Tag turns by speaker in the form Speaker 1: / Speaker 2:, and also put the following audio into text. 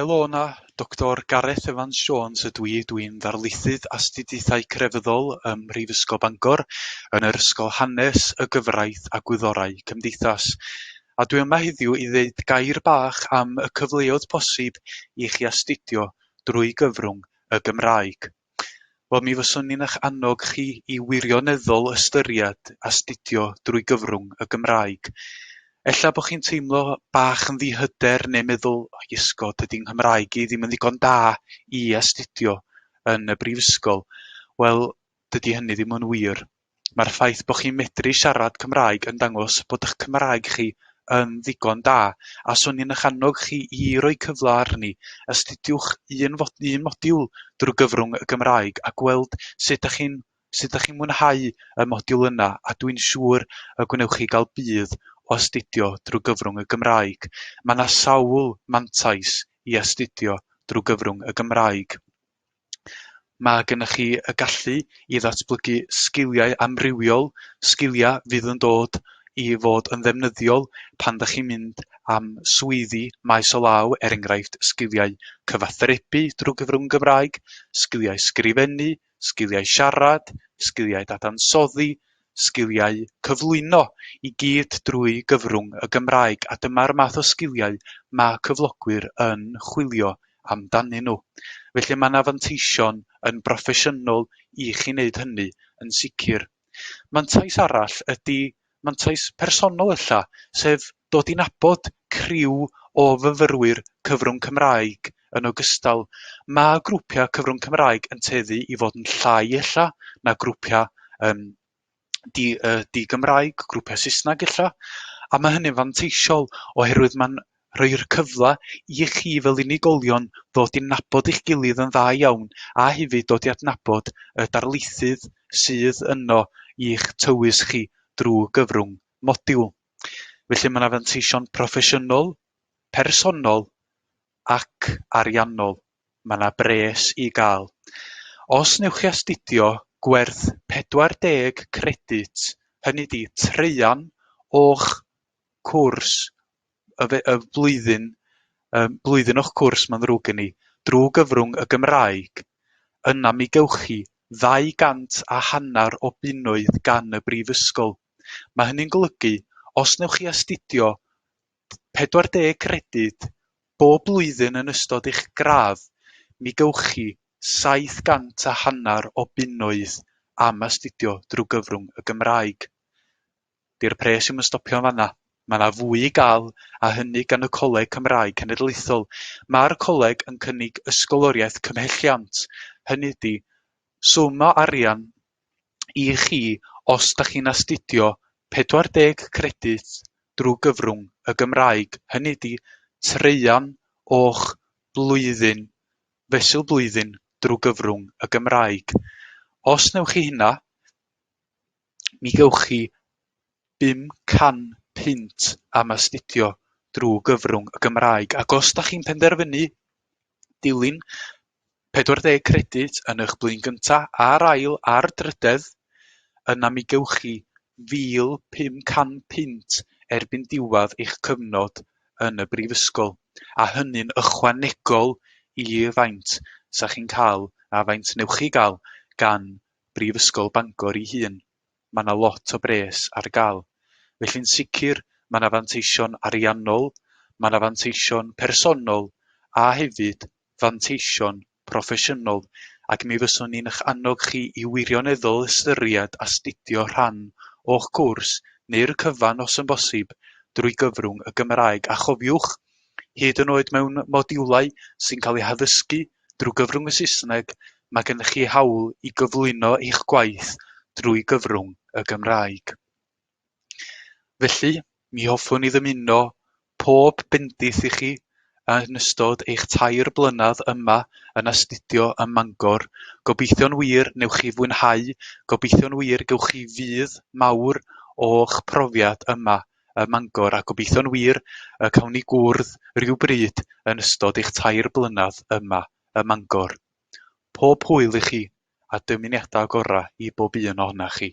Speaker 1: Helo yna, Doctor Gareth Evans Jones ydw i, dw i'n Ddarlithydd Astudiaethau Crefyddol ym Mhrifysgol Bangor yn yr Ysgol Hanes, y Gyfraith a Gwyddorau Cymdeithas. A dwi yma heddiw i ddeud gair bach am y cyfleodd posib i chi astudio drwy gyfrwng y Gymraeg. Wel, mi fyswn i'n eich annog chi i wirioneddol ystyried astudio drwy gyfrwng y Gymraeg. Ella bod chi'n teimlo bach yn ddihyder neu meddwl, oh, iesgob, dydy Nghymraeg i ddim yn ddigon da i astudio yn y brifysgol. Wel, dydy hynny ddim yn wir. Mae'r ffaith bod chi'n medru siarad Cymraeg yn dangos bod eich Cymraeg chi yn ddigon da, a 'swn i'n eich annog chi i roi cyfle arni. Astudiwch un un modiwl drwy gyfrwng y Gymraeg a gweld sut dach chi'n sut dach chi'n mwynhau y modiwl yna, a dwi'n siŵr y gwnewch chi gael budd o astudio drwy gyfrwng y Gymraeg. Mae 'na sawl mantais i astudio drwy gyfrwng y Gymraeg. Mae gennych chi y gallu i ddatblygu sgiliau amrywiol, sgiliau fydd yn dod i fod yn ddefnyddiol pan ydych chi'n mynd am swyddi maes o law, er enghraifft, sgiliau cyfathrebu drwy gyfrwng Gymraeg, sgiliau sgrifennu, sgiliau siarad, sgiliau dadansoddi, sgiliau cyflwyno i gyd drwy gyfrwng y Gymraeg a dyma'r math o sgiliau ma' cyflogwyr yn chwilio amdanyn nhw. Felly ma' 'na fanteision yn broffesiynol i chi wneud hynny yn sicr. Mantais arall ydi mantais personol ella, sef Dod i nabod criw o fyfyrwyr cyfrwng Cymraeg yn ogystal. Mae grwpiau cyfrwng Cymraeg yn tueddu i fod yn llai ella na grwpiau um, di, uh, di-Gymraeg, grwpiau Saesneg ella, a mae hynny'n fanteisiol oherwydd mae'n rhoi'r cyfle i chi fel unigolion ddod i'n nabod eich gilydd yn dda iawn a hefyd dod i adnabod y darlithydd sydd yno i'ch tywys chi drwy gyfrwng modiwl. Felly mae 'na fanteision proffesiynol, personol ac ariannol. Mae 'na bres i gael. Os newch chi astudio gwerth 40 credyd, hynny ydi traean o'ch cwrs y fe- y flwyddyn yym blwyddyn o'ch cwrs mae'n ddrwg gen i, drwy gyfrwng y Gymraeg, yna mi gewch chi ddau gant a hanner o bunnoedd gan y brifysgol. Mae hynny'n golygu, os wnewch chi astudio 40 credyd bob blwyddyn yn ystod eich gradd, mi gewch chi 700 a hanner o bunnoedd am astudio drwy gyfrwng y Gymraeg. 'Di'r pres ddim yn stopio yn fan'na. Mae yna fwy i gael, a hynny gan y Coleg Cymraeg Cenedlaethol. Mae'r coleg yn cynnig ysgoloriaeth cymhelliant, hynny ydi, swm o arian i chi os dach chi'n astudio 40 credyd drwy gyfrwng y Gymraeg, hynny ydi traean o'ch blwyddyn, fesul blwyddyn drwy gyfrwng y Gymraeg. Os wnewch chi hynna, mi gewch chi 500 punt am astudio drwy gyfrwng y Gymraeg. Ac os da chi'n penderfynu dilyn pedwar deg credyd yn eich blwyddyn gyntaf a'r ail a'r drydedd, yna mi gewch chi £1,500 punt erbyn diwedd eich cyfnod yn y brifysgol, a hynny'n ychwanegol i faint 'sa chi'n cael a faint wnewch chi gael gan Brifysgol Bangor ei hun. ma' 'na lot o bres ar ga'l. Felly'n sicr ma' 'na fanteision ariannol, ma' 'na fanteision personol a hefyd fanteision proffesiynol ac mi fyswn i'n 'ych annog chi i wirioneddol ystyried astudio rhan o'ch cwrs neu'r cyfan os yn bosib drwy gyfrwng y Gymraeg a chofiwch, hyd yn oed mewn modiwlau sy'n cael eu haddysgu drwy gyfrwng y Saesneg, mae gennych chi hawl i gyflwyno eich gwaith drwy gyfrwng y Gymraeg. Felly, mi hoffwn i ddymuno pob bendith i chi yn ystod eich tair blynedd yma yn astudio ym Mangor. Gobeithio'n wir newch chi fwynhau, gobeithio'n wir gewch chi fudd mawr o'ch profiad yma ym Mangor a gobeithio'n wir y cawn ni gwrdd rywbryd yn ystod eich tair blynedd yma ym Mangor. Pob hwyl i chi a dymuniadau gorau i bob un ohonoch chi.